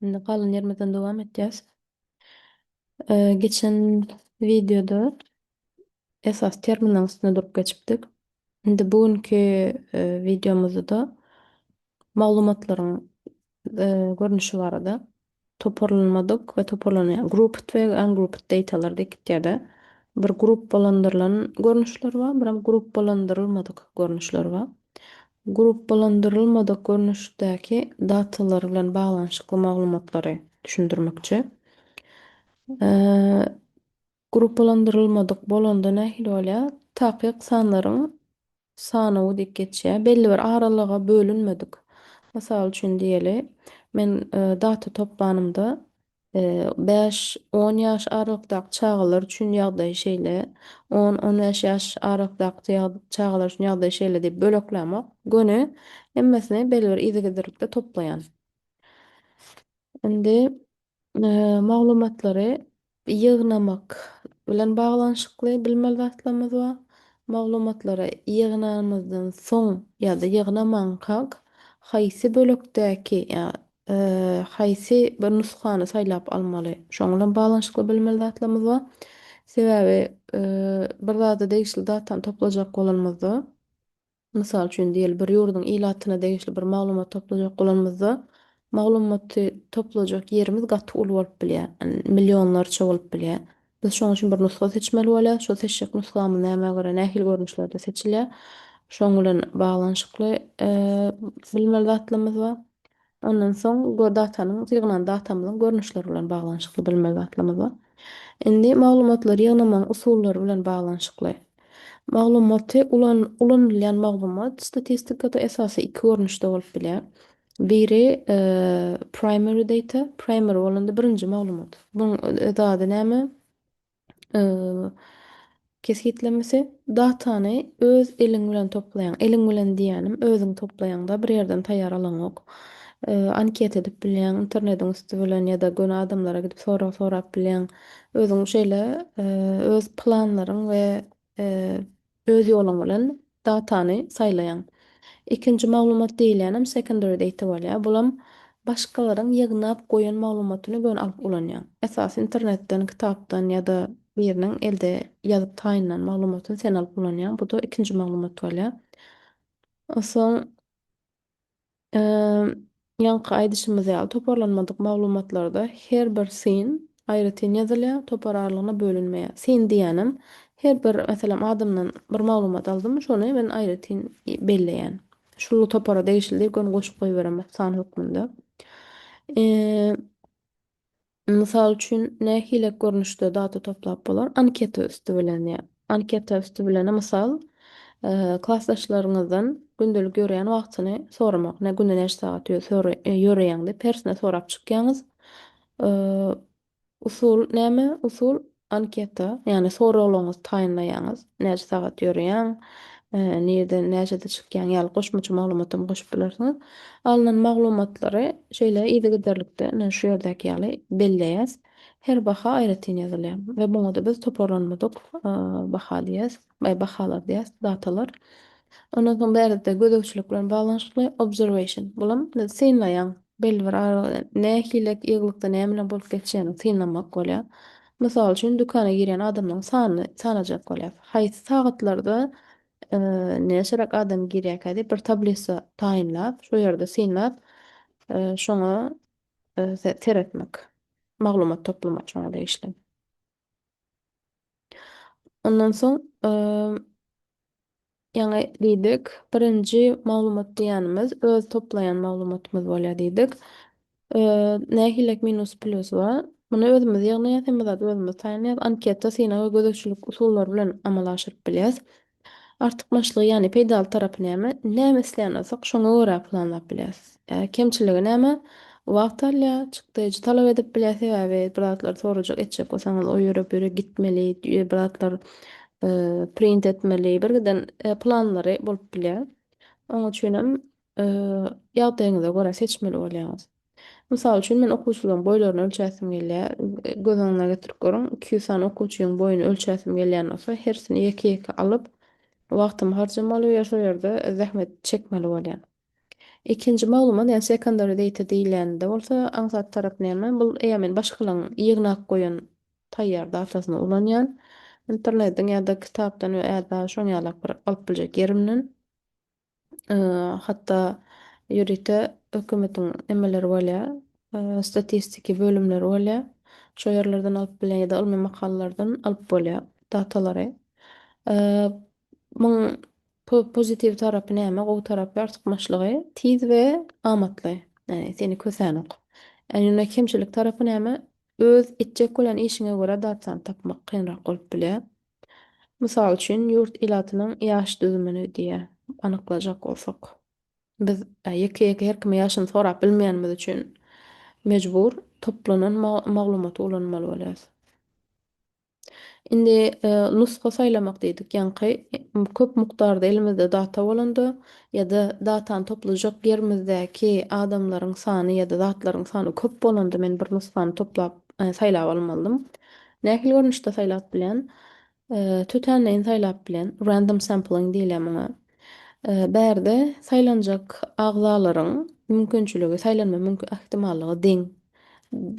Indi galan ýerimizden dowam etýäs. Geçen wideoda esas terminal üstünde durup geçipdik. Indi bu günki e, wideomyzda maglumatlaryň e, görnüşi barada toparlanmadyk we toparlanýan grouped we ungrouped datalar dikitýärde bir gruppalandyrylan görnüşler bar, bir hem gruppalandyrylmadyk görnüşler bar. Gruppalandyrylmadyk görnüşdäki datalar bilen baglanyşykly maglumatlary düşündirmekçi. Gruppalandyrylmadyk bolanda nähili bolýar? Takyk sanlaryň sanawy diýip geçýär. Belli bir aralyga bölünmedik. Mysal üçin diýeli, men data toplanymda Bäş, on ýaş aralykdaky çagalar üçin ýagdaý şeýle, on, on bäş ýaş aralykdaky çagalar üçin ýagdaý şeýle diýip böleklämok. Göni hemmesini belibir yzygiderlikde toplaýan. Indi maglumatlary ýygnamak bilen baglanyşykly bilmeli zatlarymyz bar. Maglumatlary ýygnanymyzdan soň ýa-da ýygnamankak haýsy bölekdäki, ýa haýsy bir nusgany saýlap almaly? Şoň bilen baglanyşykly bilmeli zatlarymyz bar. Sebäbi bir zada degişli datany toplajak bolanymyzda, mysal üçin diýeli, bir ýurduň ilatyna degişli bir maglumat toplajak bolanymyzda, maglumaty toplajak ýerimiz gaty uly bolup bilýär, millionlarça bolup bilýär. Biz şoň üçin bir nusga seçmeli bolýarys. Şo seçjek nusgamyz nämä görä, nähili görnüşlerde seçilýär? Şoň bilen baglanyşykly bilmeli zatlarymyz bar. Ondan soň datanyň, ýygnan datamyzyň görnüşleri bilen baglanyşykly bilmeli zatlarymyz bar. Indi maglumatlary ýygnamagyň usullary bilen baglanyşykly. Maglumaty ulanylýan maglumat statistikada esasy iki görnüşde bolup bilýär. Biri primary data, primary bolanda birinji maglumat. Buň öz ady näme? Kesgitlemesi datany öz eliň bilen toplaýaň. Eliň bilen diýýänim özüň toplaýaňda bir ýerden taýýar alaňok. Anket edip bilýäň internetiň üsti bilen ýa-da göni adamlara gidip sorag sorap bilýäň. Özüň şeýle öz planlaryň we Öz ýoluň bilen datany saýlaýaň. Ikinji maglumat diýilýänem secondary data bolýar. Bulam başgalaryň ýygnap goýan maglumatyny göni alyp ulanýaň. Esasy internetden, kitapdan ýa-da biriniň elde ýazyp taýynlan maglumatyny sen alyp ulanýaň. Bu-da ikinji maglumat bolýar. Onsoň. Ýaňky aýdyşymyz ýaly, toparlanmadyk maglumatlarda her bir syn aýratyn ýazylýar, topar aralygyna bölünmeýär. Syn diýýänem, her bir, meselem, adamdan bir maglumat aldym, şony men aýratyn belleýän. Şul topara degişli diýip, göni goşup goýberemok san hökmünde. Mysal üçin, nähili görnüşde data toplap bolar? Anketa üsti bilen, ýa anketa üsti bilen, mysal, klasdaşlaryňyzdan gündelik ýöreýän wagtyny soramak, nä günde näçe sagat ýöreýäň diýip, hersine sorap çykýaňyz. Usul näme? Usul, Anketa, ýagny soraglaryňyzy taýynlaýaňyz, näçe sagat ýörýäň, nirden, näçede çykýaň ýaly goşmaça maglumat hem goşup bilersiňiz. Alnan maglumatlary şeýle yzygiderlikde ine şu ýerdäki ýaly belleýäs. Her baha aýratyn ýazylýar we muňa-da biz toparlanmadyk baha diýýäs. Baý bahalar diýýäs, datalar. Ondan soň bärde gözegçilik bilen baglanyşykly, observation. Bulam synlaýaň, belli bir aralyk bilen nähili ýygylykda nämeler bolup geçýänini synlamak bolýar. Mysal üçin, dükana girýän adamlaryň sanyny sanajak bolýar. Haýsy sagatlarda näçeräk adam girýärkä diýip bir tablisa taýynlap, şo ýerde synlap, şoňa seretmek. Maglumat toplamak şoňa degişli. Ondan soň ýaňy diýdik, birinji maglumat diýýänimiz öz toplaýan maglumatymyz bolýar diýdik. Nähililik minus plýus we muny özümiz ýygnaýarys, hemme zady özümiz taýýarlaýarys. Anketa synag we gözegçilik usullary bilen amala aşyryp bilýäris. Artykmaçlygy, ýagny peýdaly tarapy näme? Näme isleýän bolsak, şoňa görä planlap bilýäs. Kemçiligi näme? Wagt alýar, çykdajy talap edip bilýär, sebäbi bir zatlar sorajak, etjek bolsaňyz, o ýere, bu ýere gitmeli, bir zatlar print etmeli, birgiden planlary bolup bilýär. Oň üçin hem ýagdaýyňyza görä seçmeli bolýaňyz. Mysal üçin, men okuwçylaryň boýlaryny ölçäsim gelýär. Göz öňüňize getirip görüň, iki ýüz sany okuwçynyň boýuny ölçäsim gelýän bolsa, hersini ýeke-ýeke alyp, wagtymy harjamaly we şol ýerde zähmet çekmeli bolýan. Ikinji maglumat, ýagny secondary data diýilende bolsa, aňsat tarap näme? Bul eýýäm men başgalaryň ýygnap goýan taýýar datasyny ulanýan. Internetiň ýa-da kitapdan we ä-da şoň ýalak bir alyp biljek ýerimden. hatda ýörite hökümetiň nemeleri bolýar, statistiki bölümleri bolýar. Şo ýerlerden alyp bilýän ýa-da ylmy makalalardan alyp bolýar datalary. Muň pozitiw tarapy näme, gowy tarapy, artykmaçlygy tiz we amatly, ýagny seni kösänok. Ýöne kemçilik tarapy näme, öz etjek bolýan işiňe görä dat sany tapmak kynrak bolup bilýär. Mysal üçin, ýurt ilatynyň ýaş düzümini, diýýär, anyklajak bolsak. Biz ýeke-ýeke her kime ýaşyny sorap bilmeýänimiz üçin, mejbur toplanan maglumaty ulanmaly bolýarys. Indi nusga saýlamak diýdik. Ýaňky köp mukdarda elimizde data bolanda ýa-da datany toplajak ýerimizdäki adamlaryň sany ýa-da zatlaryň sany köp bolanda men bir nusgany toplap, saýlap almalydym. Nähili görnüşde saýlap bilen? Tötänleýin saýlap bilen, random sampling diýilýär muňa. Bärde saýlanjak agzalaryň mümkinçiligi, saýlanma ähtimallygy deň.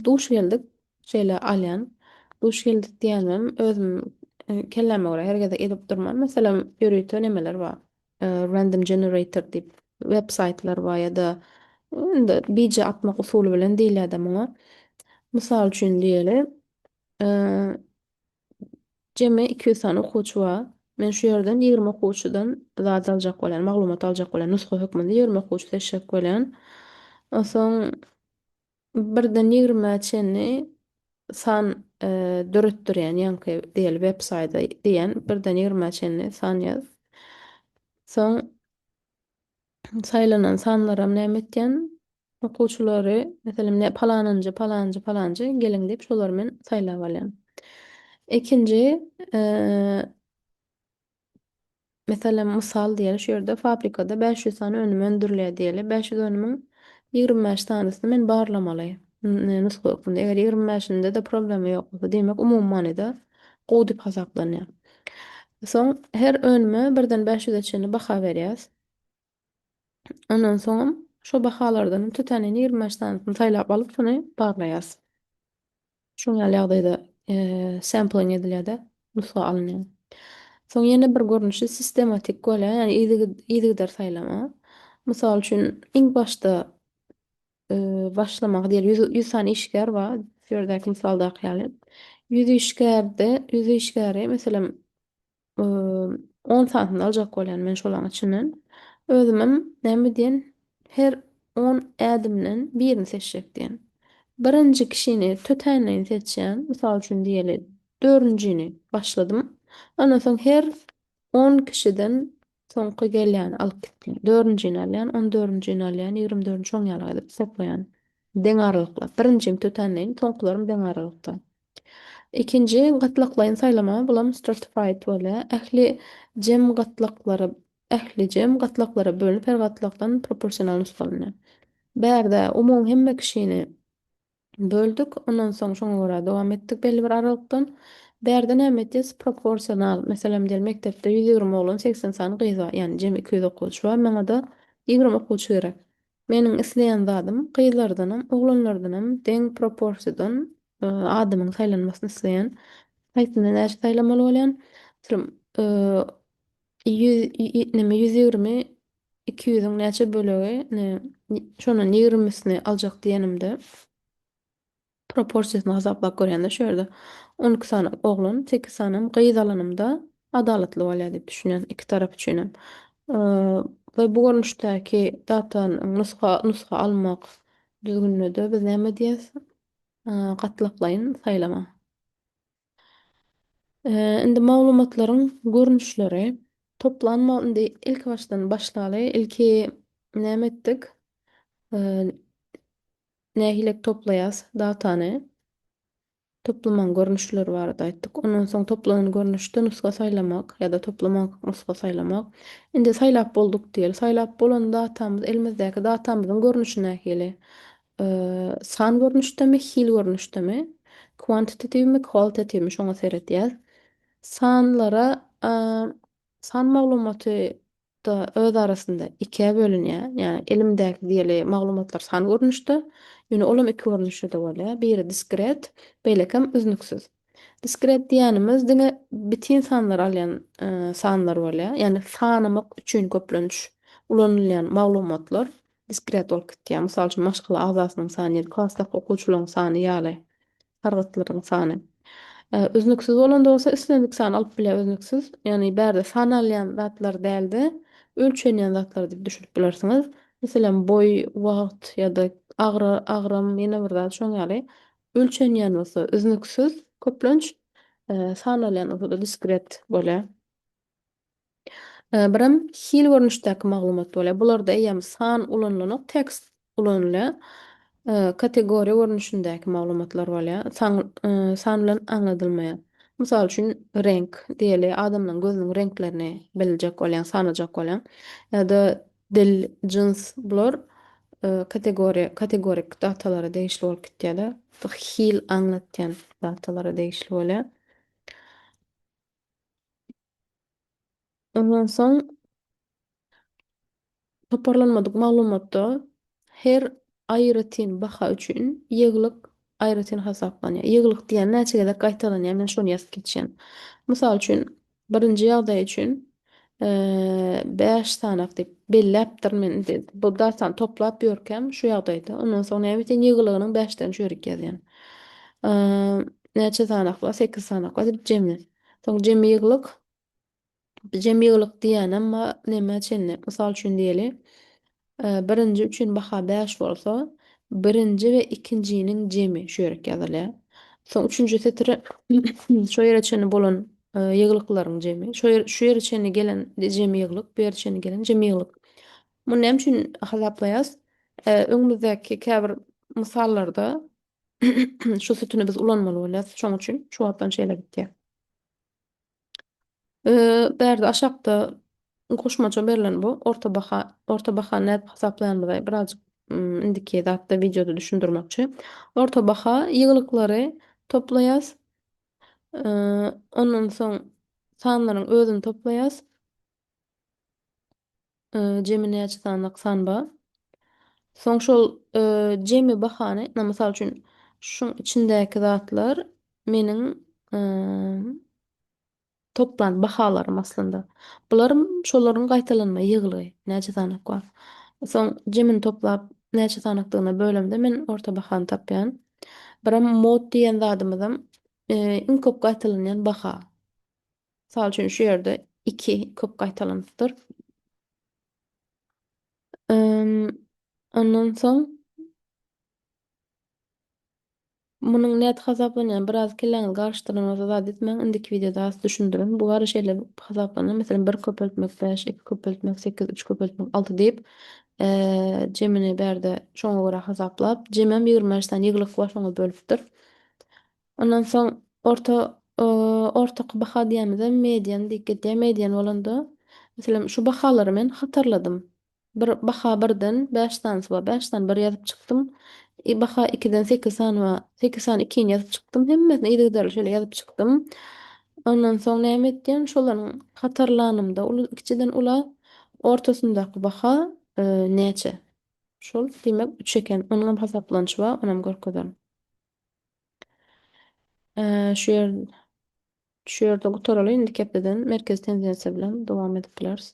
Duş geldik, şeýle alýan. Duş geldik diýänim, özüm kelläme görä her gezek edip durman, meselem, ýörite nemeler bar. random generator diýip web saýtlar bar ýa-da indi bije atmak usuly bilen diýilýär-de muňa. Mysal üçin diýeli, jemi iki ýüz sany okuwçy bar. Men şu ýerden ýigrimi okuwçydan zat aljak bolýan, maglumat aljak bolýan, nusga hökmünde ýigrimi okuwçy seçjek bolýan. Onsoň Birden ýigrimä çenli san döretdirýän ýaňky diýeli websaýda diýen birden ýigrimä çenli san ýaz. Soň saýlanan sanlaram näme etýän okuwçylary meselem palanynjy palanjy palanjy geliň diýip şolary men saýlap alýan. Ikinji Meselem, mysal diýeli, şu ýerde fabrikada bäş ýüz sany önüm öndürilýär diýeli. Bäş ýüz önümiň ýigrimi bäş sanysyny men barlamaly, nusga hökmünde. Eger ýigrimi bäşinde-de problema ýok bolsa, diýmek, umumy manyda gowy diýip hasaplanýar. Soň her önüme birden bäş ýüze çenli baha berýäs. Ondan soňam şo bahalardan iki sanyny, ýigrimi bäş sanysyny saýlap alyp, şony barlaýas. Şuň ýaly ýagdaýda sampling edilýär-de, nusga alynýar. Soň ýene bir görnüşi sistematik bolýar, ýagny yzygider saýlama. Mysal üçin, iň başda başlamaga diýeli, ýüz, ýüz sany işgär bar, şu ýerdäki mysaldaky ýaly. Ýüz işgärde, ýüz işgäri, meselem, Imm, on santyny aljak bolýan men şolaň içinden. Özümem näme diýen, her on ädimden birini seçjek diýen. Birinji kişini tötänleýin seçýän, mysal üçin diýeli, dördünjini başladym. Ondan soň her on kişiden Soňky gelýäni alyp gitmeýän. Dördünjini alýan, on dördünjini alýan, ýigrimi dördünji şoň ýaly edip hesaplaýan. Deň aralyklap. Birinjini tötänleýin, soňkularym deň aralykda. Ikinji gatlaklaýyn saýlama, bulam stratified bolýar. Ähli jem gatlaklara ähli jem gatlaklara bölünip, her gatlakdan proporsional nusgalanýar. Bärde umumy hemme kişini Böldük, ondan soň şoňa görä dowam etdik belli bir aralykdan. Bärde näme etýäs? Proporsional. Meselem, diýeli, mekdepde ýüz ýigrimi oglan, segsen sany gyz bar. Ýagny jemi iki ýüz okuwçy bar, maňa-da ýigrimi okuwçy gerek. Meniň isleýän zadym, gyzlardanam, oglanlardanam deň proporsiýadan adamyň saýlanmasyny isleýän. Haýsynda näçe saýlamaly bolýan? Ýüz ýigrimi Iki ýüzüň näçe bölegi, ine, şondan ýigrimisini aljak diýenimde, proporsiýasyny hasaplap görýän-de şu ýerde. On iki sany oglan, sekiz sanam gyz alanymda adalatly bolýar diýip düşünýän, iki tarap üçin hem. We bu görnüşdäki datanyň nusga nusga almak düzgünine-de biz näme diýýäs? Gatlaklaýyn saýlama. Indi maglumatlaryň görnüşleri toplanma indi ilki başdan başlaly ilki näme etdik nähili toplaýas datany toplamaň görnüşleri barada aýtdyk ondan soň toplanan görnüşde nusga saýlamak ýa-da toplamak nusga saýlamak indi saýlap bolduk diýeli saýlap bolan datamyz elimizdäki datamyzyň görnüşi nähili San görnüşdemi, hil görnüşdemi, kwantitatiwmi, kwalitatiwmi şoňa seredýär. Sanlara san maglumaty da öz arasynda ikä bölünýär. Ýagny elimdäki diýeli maglumatlar san görnüşde, ýöne olam iki görnüşde-de bolýar. Biri diskret, beýlekem üznüksiz. Diskret diýýänimiz diňe bitin sanlary alýan sanlar bolýar. Ýagny sanamak üçin köplenç ulanylýan maglumatlar diskret bolup gitýär, mysal üçin, maşgala agzasynyň sany ýa-da klasdaky okuwçylaryň sany ýaly sargytlaryň sany. Üznüksiz bolanda bolsa islendik sany alyp bilýär, üznüksiz, ýagny bärde sanalýan zatlar däl-de, ölçenýän zatlar diýip düşünip bilersiňiz. Meselem, boý, wagt ýa-da agram, ýene bir zat şoň ýaly. Ölçenýän bolsa üznüksiz köplenç, sanalýan bolsa-da diskret bolýar. Birem hil görnüşdäki maglumat bolýar. Bularda eýýäm san ulanylanok, tekst ulanylýar. Kategoriýa görnüşindäki maglumatlar bolýar. San san bilen aňladylmaýar. Mysal üçin, reňk diýeli, adamlaryň gözüniň reňklerini biljek bolýaň, sanajak bolýaň. Ýa-da dil, jyns, bular kategoriýa kategorik datalara degişli bolup gitýär-de, hil aňlatýan datalara degişli bolýar. Ondan soň toparlanmadyk maglumatda her aýratyn baha üçin ýygylyk aýratyn hasaplanýar. Ýygylyk diýýän näçe gezek gaýtalanýar, men şony ýazyp geçýän. Mysal üçin, birinji ýagdaý üçin Bäş sanak diýip belläpdir men indi bu datany toplap ýörkäm şu ýagdaýda. Ondan soň näme sen ýygylygynyň bäşden çörek ýazýan. Näçe sanak bar? Sekiz sanak bar diýip jemi. Soň jemi ýygylyk. Jemi ýygylyk diýýänem neme çenli. Mysal üçin diýeli. Birinji üçin baha bäş bolsa, birinji we ikinjiniň jemi şu ýerik ýazylýar. Soň üçünji setire şo ýere çenli bolan ýyglyklaryň jemi. Şo ýer şu ýere çenli gelen jemi ýyglyk, bu ýere çenli gelen jemi ýyglyk. Muny näme üçin hasaplaýas? Öňümizdäki käbir mysallarda şu sütüni biz ulanmaly bolýas. Şoň üçin şu wagtdan şeýle gitýär. Bärde aşakda goşmaça berlen bu orta baha, orta bahany nädip hasaplaýanymyzy birazjyk indiki zatda wideoda düşündirmekçi. Orta baha ýygylyklary toplaýas. Ondan soň sanlaryň özüni toplaýas. Jemi näçe sanalyk san bar? Soň şol jemi bahany, mysal üçin, şuň içindäki zatlar meniň toplan bahalarym aslynda. Bularym şolaryň gaýtalanma ýygylygy, näçe sanalyk bar. Soň jemini toplap, näçe sanalykdygyna bölemde men orta bahany tapýan. Birem mod diýen zadymyzam iň köp gaýtalanýan baha. Mysal üçin şu ýerde iki köp gaýtalanypdyr. Ondan soň munuň nädip hasaplanýany biraz kelläňizi garyşdyranyňyzda zat etmäň, indiki wideoda az düşündiriň. Bu gara şeýle hasaplanýar, meselem, bir köpeltmek bäş, iki köpeltmek sekiz, üç köpeltmek alty diýip, jemini bärde şoňa görä hasaplap, jemem ýigrimi bäş sany ýygylyk bar, şoňa bölüpdir. Ondan soň orta ortaky baha diýemizem median diýip gidýär. Median bolanda, meselem, şu bahalary men hatarladym. Bir baha birden bäş sanysy bar. Bäş sany bir ýazyp çykdym. I baha ikiden sekiz sany bar. Sekiz sany ikini ýazyp çykdym. Hemmesini yzygiderli şeýle ýazyp çykdym. Ondan soň näme etýän? Şolaryň hatarlanymda uly kiçiden ula ortasyndaky baha näçe? Şol diýmek üç eken. Onuňam hasaplanyşy bar, onam görkezerin. Şu ýer şu ýerde gutaraly, indiki hepdeden merkezi tendensiýa bilen dowam edip bileris.